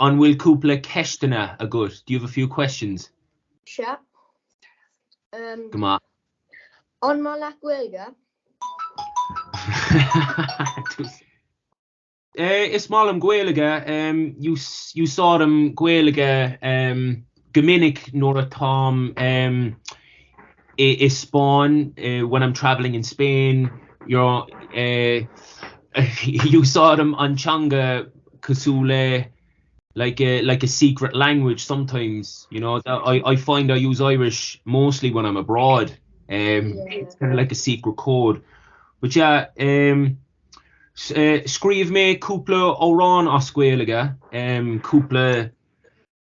An bhfuil cúpla ceisteanna agat? Do you have a few questions? Sea. Um, Go maith. An maith leat Gaeilge? Eh, is maith liom Gaeilge, um, ú, úsáidim Gaeilge, um, Go minic nuair atáim sa Spáinn, when I'm travelling in Spain, úsáidim an teanga cosúil le like a secret language sometimes, you know, I find I use Irish mostly when I'm abroad, it's kind of like a secret code. But yeah, scríobh mé cúpla amhrán as Gaeilge, cúpla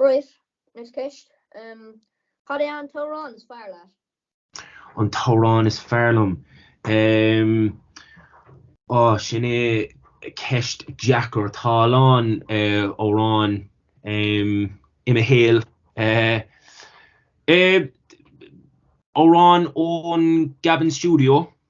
Right, next ceist, Cad é an t-amhrán is fearr leat? An t-amhrán is fearr liom? Em, Ó, sin é ceist deacair. Tá a lán amhráin i mo shaol. Amhrán ón gCabin Studio,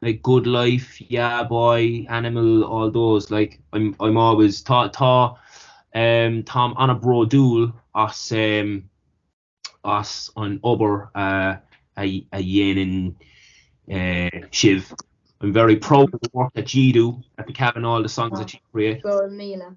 like good life yeah boy animal all those like I'm I'm always tá tá ehm táim an-bhródúil as ehm as an obair a a a dhéanann eh sibh I'm very proud of the work that ye do at the cabin all the songs that ye create. go raibh míle.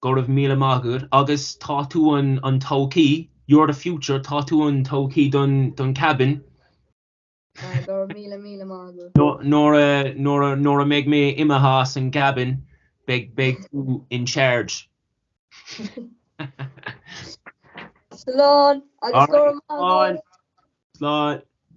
Go raibh míle maith agat agus tá tú an an todhchaí, you're the future, tá tú an todhchaí don don Cabin. Go raibh míle míle maith agat. Nuair a nuair a nuair a mbeidh mé imithe as an gCabin beidh beidh tú in charge. Slán agus go raibh maith agat. Slán. Slán.